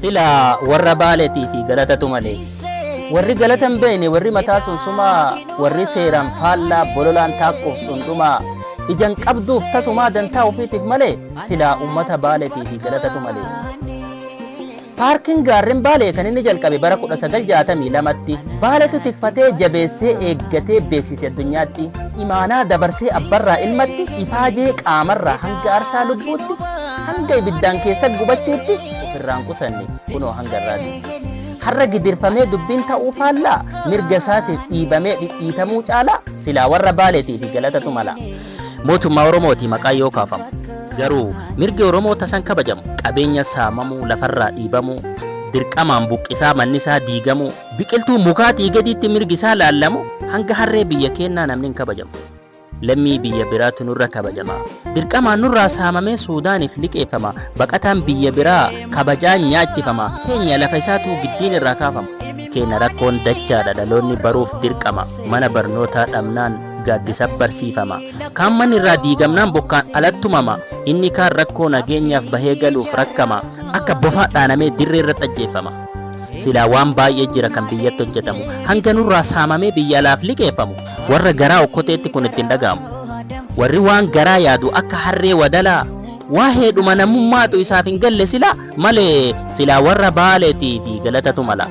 Silaa warra Baaletii fi Galatatu malee. Warri Galata hin beekne, warri mataa sunsumaa, warri seeraan faallaa, bololaan taakkuuf dhundhumaa, ija hin qabduuf tasumaa dantaa ofiitiif malee, silaa uummata Baaletii fi Galatatu malee. Paarkiin Gaarren Baalee kan inni jalqabe bara 1962tti. Baaletu tikfatee, jabeessee, eeggatee, beeksise addunyaatti. Imaanaa dabarsee abbarraa ilmatti, ifaajee qaamarraa hanga aarsaa lubbuutti, hanga ibiddaan keessa gubachuutti, ofirraan qusanne kunoo hanga irraati. Har'a gidirfamee dubbiin ta'uu faallaa mirga isaatiif dhiibamee dhidhiitamuu caalaa silaa warra baaleetii fi galatatu mala. Mootummaa Oromooti maqaa yoo kaafamu. Garuu mirgi Oromoo tasan kabajamu qabeenya saamamuu lafarraa dhiibamuu dirqamaan buqqisaa manni isaa diigamuu biqiltuu mukaatii gadiitti mirgi isaa laallamu hanga harree biyya keennaa namni hin kabajamu. Lammii biyya biraatu nurra kabajama. Dirqamaan nurraa saamamee Suudaaniif liqeeffama. Baqataan biyya biraa kabajaan nyaachifama. Keenya lafa isaatu giddiin irraa kaafama. Keenya rakkoon dachaadha dhaloonni baruuf dirqama. Mana barnootaa dhabnaan gaaddisa barsiifama. Kaan manni irraa diigamnaan bokkaan alattumama. Inni kaan rakkoo nageenyaaf bahee galuuf rakkama. Akka bofaa dhaanamee dirree irratti ajjeeffama. Silaa waan baay'ee jira kan biyyatti hojjetamu. Hanga nurraa saamamee biyya alaaf liqeeffamu. Warra garaa okkoteetti kun itti hin dhaga'amu. Warri waan garaa yaadu akka harree wadalaa waaheedhuma namummaatu isaaf hin galle silaa malee silaa warra Baaleetiifi galatatu mala.